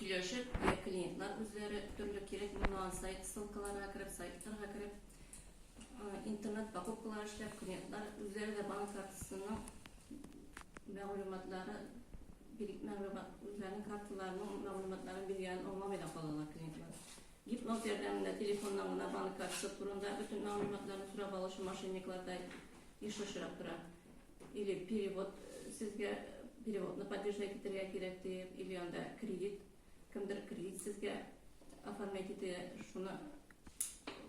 Сөйләшеп, йә клиентлар үзләре төрле кирәк булмаган сайт ссылкаларына кереп, сайтларга кереп, интернет покупкалар эшләп, клиентлар үзләре дә банк картасының мәгълүматлары, мәгълүмат, үзләренең карталарының мәгълүматларын биргәнен аңламый да калалар клиентлар. Гипноз ярдәмендә телефоннан гына банк картасы турында бөтен мәгълүматларны сорап алучы мошенниклар да еш очрап тора. Или перевод сезгә переводны поддержать итәргә кирәк диеп, или анда кредит, кемдер кредит сезгә оформлять итә, шуны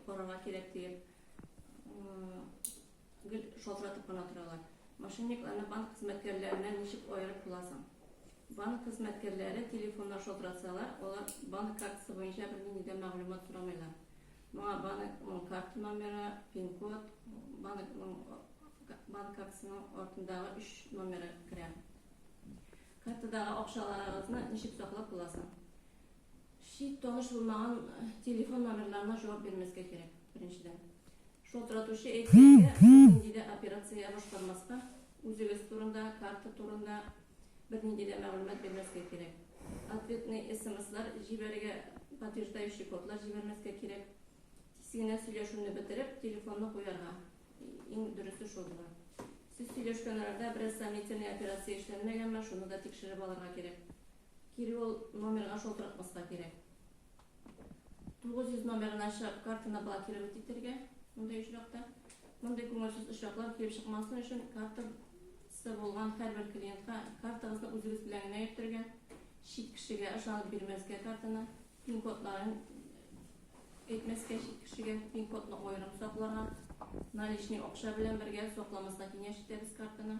карарга кирәк диеп, гел шалтыратып кына торалар. Мошенникларны банк хезмәткәрләренә ничек аерып буласың? Банк хезмәткәрләре телефоннан шалтыратсалар, алар банк картасы буенча бернинди дә мәгълүмат сорамыйлар. Моңа банкның карта номеры, пин-код, банкның банк картасының артындагы өч номеры керә. Картадагы акчаларыгызны ничек саклап буласың? Шик таныш булмаган э, телефон номерларына җавап бирмәскә кирәк, беренчедән. Шалтыратучы әйтсә, нинди дә операция башкармаска, үзегез турында, карта турында, Бернинди дә мәгълүмат бирмәскә кирәк. Ответный смслар җибәрергә, подтверждающий кодлар җибәрмәскә кирәк. Тиз генә сөйләшүне бетереп, телефонны куярга. Иң дөресе шул була. Сез сөйләшкән арада бераз сомнительный операция эшләнмәгәнме, шуны да тикшереп алырга кирәк. Кире ул номерга шалтыратмаска кирәк. Тугыз йөз номерын ачып, картаны блокировать итәргә, мондый очракта. Мондый күңелсез очраклар килеп чыкмасын өчен, картасы булган һәрбер клиентка картагызны үзегез белән генә йөртергә, чит кешегә ышанып бирмәскә картаны, пин-кодларын әйтмәскә, чит кешегә пин-кодны аерым сакларга, наличный акча белән бергә сакламаска киңәш итәбез картаны.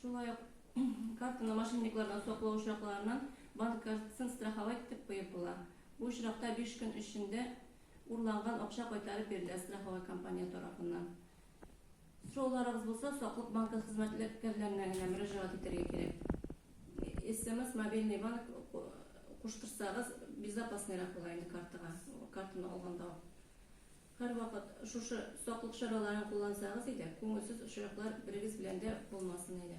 Шулай ук картаны мошенниклардан саклау очракларыннан банк картасын страховать итеп куеп була. Бу очракта биш көн эчендә урланган акча кайтарып бирелә страховой компания тарафыннан. Сорауларыгыз булса, Саклык банкы хезмәткәрләренә генә мөрәҗәгать итәргә кирәк. СМС, мобильный банк куштырсагыз, безопасныйрак була инде картага, картаны алганда ук. Һәрвакыт шушы саклык чараларын куллансагыз иде, күңелсез очраклар берегез белән дә булмасын иде.